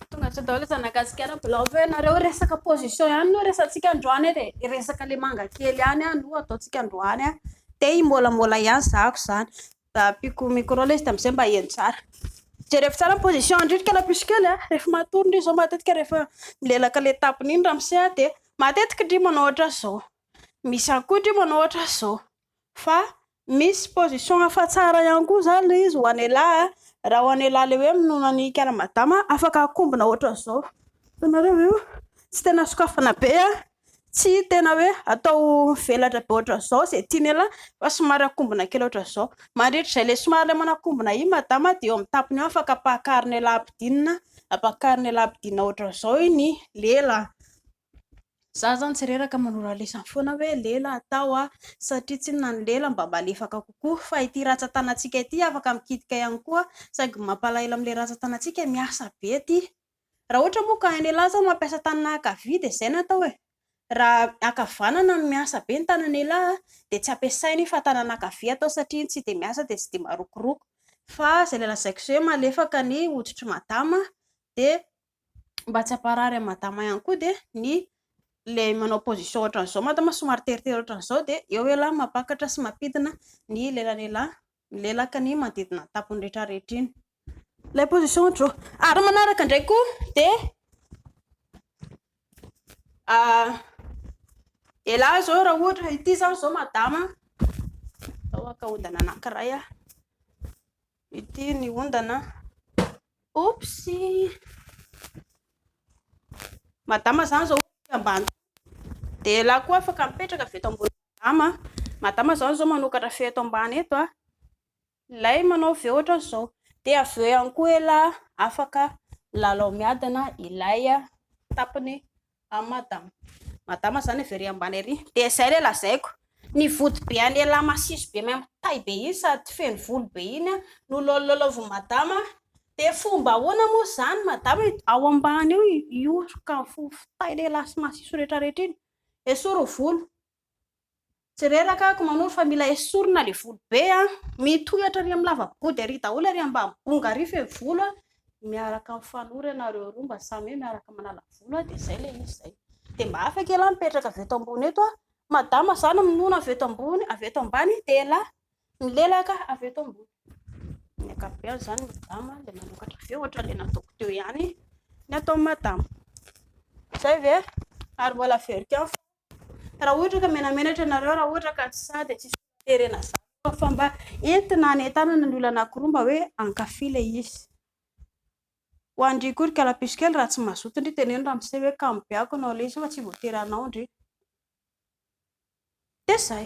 Tonga hatreo daholo aza nagasikara mbola avy eo ianareo resaka position ihany no resantsika androany e, dia resaka le manga kely ihany no ataontsika androany an, te himôlamôla ihany zako zany, mba ampiako micro aloha izy dia amizay mba heno tsara, jereko tsara ny position andrio ry kalapisy kely an, rehefa matory ndry zao matetika rehefa milelaka le tapony iny ramose an, dia matetika ndry manao ohatran'izao, misy ihany koa ndry manao ohatran'izao, fa Misy position hafa tsara ihany koa zany le izy ho an'ialahy a, raha ho an'ialahy le hoe minono an'i kara madama afaka akombona ohatran'izao, hitanareo ve io, tsy tena sokafana be a, tsy tena hoe atao mivelatra be ohatran'izao ze tian'ialahy fa somary akombona kely ohatran'izao, mandritra izay le somary le manakombona iny madama de eo amin'ny tapony eo afaka ampahakarin'ialahy ampidinina, ampahakarin'ialahy ampidinina ohatran'izao iny lela. Za zany tsy reraka manora lesany foana hoe lela atao a! satria tsinona na ny lela mba malefaka kokoa fa ity ratsan-tanantsika ity afaka mikitika ihany koa saingy ny mampalahelo amin'ilay ratsan-tanantsika miasa be ity raha ohatra moa ka hain'ialahy izao mampiasa tanana ankavia dia izay no atao e! raha ankavanana no miasa be ny tanan'ialahy dia tsy ampiasainy fa tanana ankavia atao satria tsy dia miasa dia tsy dia marokoroko fa izay ilay lazaiko izay hoe malefaka ny hoditr'i madama dia mba tsy hamparary an'i madama ihany koa dia ny ilay manao position ohatran'izao madama somary teritery ohatran'izao dia eo ialahy mampakatra sy mampidina ny lelan'ialahy milelaka ny manodidina ny tampony rehetra rehetra iny. Ilay position ohatr'izao. Ary manaraka indray koa dia ah, ialahy izao raha ohatra ity izany izao madama, atao akaondana anankiray aho. Ity ny ondana. Oops! Madama zany zao ambany. Dia lahy koa afaka mipetraka avy eto ambony madama. Madama zany zao manokatra feo eto ambany eto a. Ilay manao feo ohatran'izao. Dia avy eo ihany koa elah afaka milalao miadana ilay tapany Am madama. Madama zany avy ery ambany ery. Dia izay ilay lazaiko. Ny vody be an'ialahy masiso be maimbo tay be iny sady feno volo be iny an, no lolololovon'i madama. Dia fomba ahoana moa izany madama e? Ao ambany eo hihosoka ny fofon-tay lehilahy sy masiso rehetrarehetra iny. Esory ny volo. Tsy reraka ako manoro fa mila esorina le volo be a! Mitohy hatrany amin'ny lava body ary daholo ary ambany bongo ary feno volo a! Miaraka mifanoro ianareo roa mba samy hoe miaraka manala volo a! Dia zay le izy zay. Dia mba afaka ialahy mipetraka avy eto ambony eto a! Madama za no minono avy eto ambony, avy eto ambany dia ialahy milelaka avy eto ambony. Amin'ny ankapobeny izany madama dia manokatra avy eo ohatra le nataoko teo ihany ny ataon'i madama. Zay ve? Ary mbola averiko ihany fa Raha ohatra ka menamenatra ianareo, raha ohatra ka tsy sahy dia tsy sokaterena zaza fa mba entina any an-tanana ny olona anankiroa mba hoe hankafy ilay izy. Ho an-dry akory kalapisy kely raha tsy mazoto ndry teneno ramose hoe kamo be ako anao ilay izy fa tsy voatery hanao ndry. Dia izay.